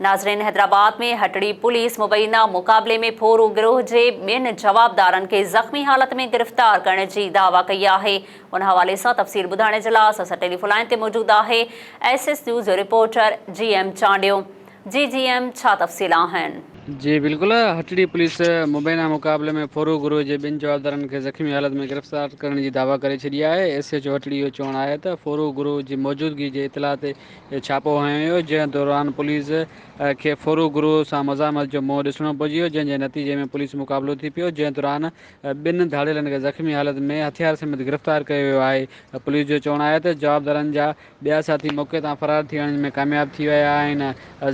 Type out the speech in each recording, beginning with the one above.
ناظرين حيدرآباد ۾ هٽڙي پوليس مبينا مقابلي ۾ ڦورو گروهه جي ٻن جوابدارن کي زخمي حالت ۾ گرفتار ڪرڻ جي دعويٰ ڪئي آهي ان حوالي سان تفصيل ٻڌائڻ جي لاء اسان سان ٽيليفون لائين تي موجود آهي ايس ايس نيوز جو reporter G M Chandio ji G M ڇا تفصيل آهن. جي بلڪل هٽڙي پوليس مبينا مقابلي ۾ ڦورو گروهه جي ٻن جوابدارن کي زخمي حالت ۾ گرفتار ڪرڻ جي دعويٰ ڪري ڇڏي آهي ايس ايچ او هٽڙي جو چوڻ آهي ته ڦورو گروهه جي موجودگي جي اطلاع تي ڇاپو هنيو ويو، جنهن دوران پوليس کي ڦرو گروء سان مزاحمت جو منهن ڏسڻو پئجي ويو، جنهن جي نتيجي ۾ پوليس مقابلو ٿي پيو، جنهن دوران ٻن ڌاڙيلن کي زخمي حالت ۾ هٿيار سميت گرفتار ڪيو ويو آهي. پوليس جو چوڻ آهي ته جوابدارن جا ٻيا ساٿي موقعي تان فرار ٿي وڃڻ ۾ ڪامياب ٿي ويا آهن،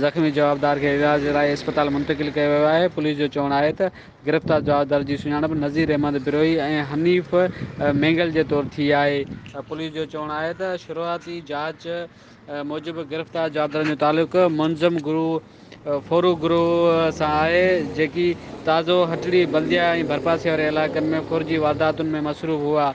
زخمي جوابدار کي علاج لاء اسپتال منتقل ڪيو ويو آهي، پوليس جو چوڻ آهي ته گرفتار جوابدارن جي سڃاڻپ نذير احمد بروهي ۽ حنيف مينگل جي طور ٿي آهي. پوليس جو چوڻ آهي ته شروعاتي جاچ موجب گرفتار جوابدارن جو تعلق منظم گروهه ڦورو گروهه سان آهي، جيڪي تازو، هٽڙي، بلديا ۽ ڀرپاسي واري علائقن ۾ ڦورجي وارداتن ۾ مصروف هئا.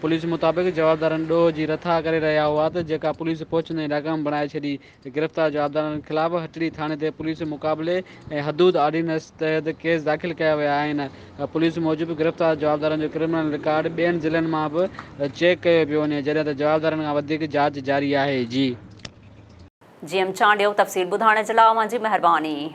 پوليس مطابق جوابدارن ڏوهه جي رٿا ڪري رهيا هئا ته جيڪا پوليس پهچندي ناڪام بڻائي ڇڏي. گرفتار جوابدارن خلاف هٽڙي ٿاڻي تي پوليس مقابلي ۽ حدود آرڊيننس تحت ڪيس داخل ڪيا ويا آهن. پوليس موجب گرفتار جوابدارن جو ڪرمنل رڪارڊ ٻين ضلعن مان به چيڪ ڪيو پيو وڃي جڏهن ته جوابدارن کان وڌيڪ جاچ جاري آهي. جي. جي ايم چانڊيو تفصيل ٻڌائڻ جي لاء اوهان جي مهرباني.